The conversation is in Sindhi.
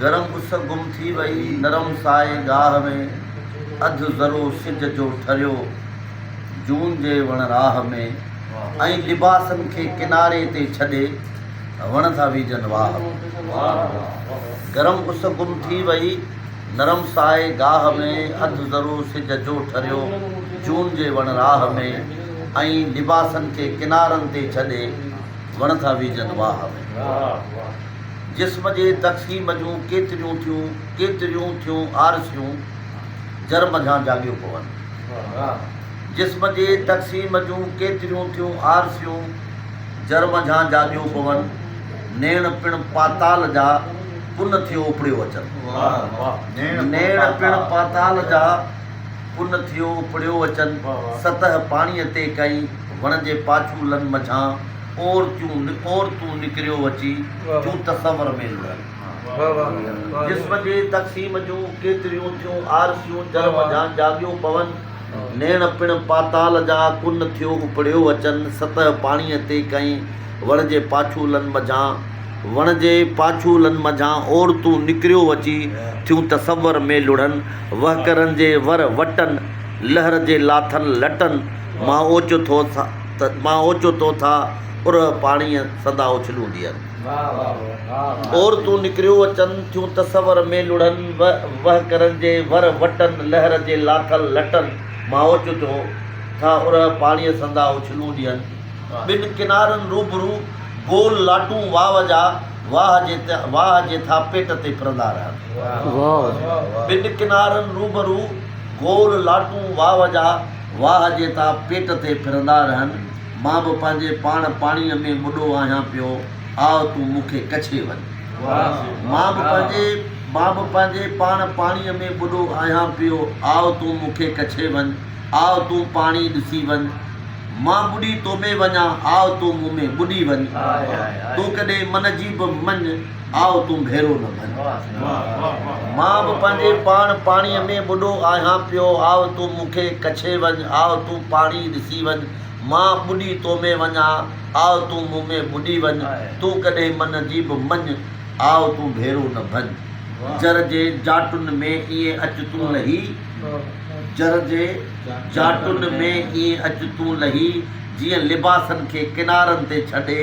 گرم اس گم ٿي وئي، نرم سائي گاهه ۾، اڌ ذرو سج جو ٺريو، جون جي وڻ راهه ۾، ۽ لباسن کي ڪناري تي ڇڏي، وڻ ٿا ويجهن واهه ۾. گرم اس گم ٿي وئي، نرم سائي گاهه ۾، اڌ ذرو سج جو ٺريو، جون جي وڻ راهه ۾، ۽ لباسن کي ڪنارن تي ڇڏي، وڻ ٿا ويجهن واهه ۾. جسم جي تقسيم جون ڪيتريون ٿيون ڪيتريون ٿيون آرسيون جر منجهان جاڳيو پون. جسم جي تقسيم جون ڪيتريون ٿيون آرسيون جر منجهان جاڳيو پون. نيڻ پڻ پاتال جا پن ٿيو اپڙيو اچن. نيڻ پڻ پاتال جا پن ٿيو اپڙيو اچن. سطح پاڻيء تي ڪئين وڻ جي پاڇولن منجهان. اور تون اور تون نڪريو اچي جون تصور ۾ لڙن جسم جي تقسيم جون ڪيتريون ٿيون آرزيون جر منجهان جاڳيو پون نيڻ پڻ پاتال جا ڪن ٿيو اپڙيو اچن سطح پاڻيء تي ڪئين وڻ جي پاڇولن منجهان وڻ جي پاڇولن منجهان اور تون نڪريو اچي ٿيون تصور ۾ لڙن وهڪرن جي ور وٽن لهر جي لاٿل لٽن مان اوچتو ٿا ته مان اوچو تو ٿا اورهه پاڻيء سندا اڇلون ديئن. عورتون نڪريو اچن ٿيون تصور ۾ لڙهن وهڪرن جي ور وٽن لهر جي لاٿل لٽن مان اوچو تو ٿا اورهه پاڻيء سندا اڇلون ديئن. ٻن ڪنارن روبرو گول لاٽون واء جا واهه جي ٿا پيٽ تي ڦرندا رهن. ٻن ڪنارن روبرو گول لاٽون واء جا. واهه جيتا پيٽ تي ڦرندا رهن، مان به پنهنجي پاڻ پاڻيء ۾ ٻڏو آهيان پيو، آء تون مون کي ڪڇي وڃ. مان به پنهنجي مان به پنهنجي پاڻ پاڻيء ۾ ٻڏو آهيان پيو، آء تون مون کي ڪڇي وڃ، آء تون پاڻي ڏسي وڃ، مان ٻڏي تو ۾ وڃان، آء تون مون ۾ ٻڏي وڃ، تون ڪڏهن من جي به مڃ. آء تون ڀيرو نه ڀر. مان به پنهنجي پاڻ پاڻيء ۾ ٻڏو آهيان پيو. آء تون مون کي ڪڇي وڃ. آء تون پاڻي ڏسي وڃ. مان ٻڏي تو ۾ وڃان. آء تون مون ۾ ٻڏي وڃ. تون ڪڏهن من جي به مڃ. آء تون ڀيرو نه ڀڃ. جر جي جاٽن ۾ ائين اچ تون لهي. جر جي جاٽن ۾ ائين اچ تون لهي. جيئن لباسن کي ڪنارن تي ڇڏي.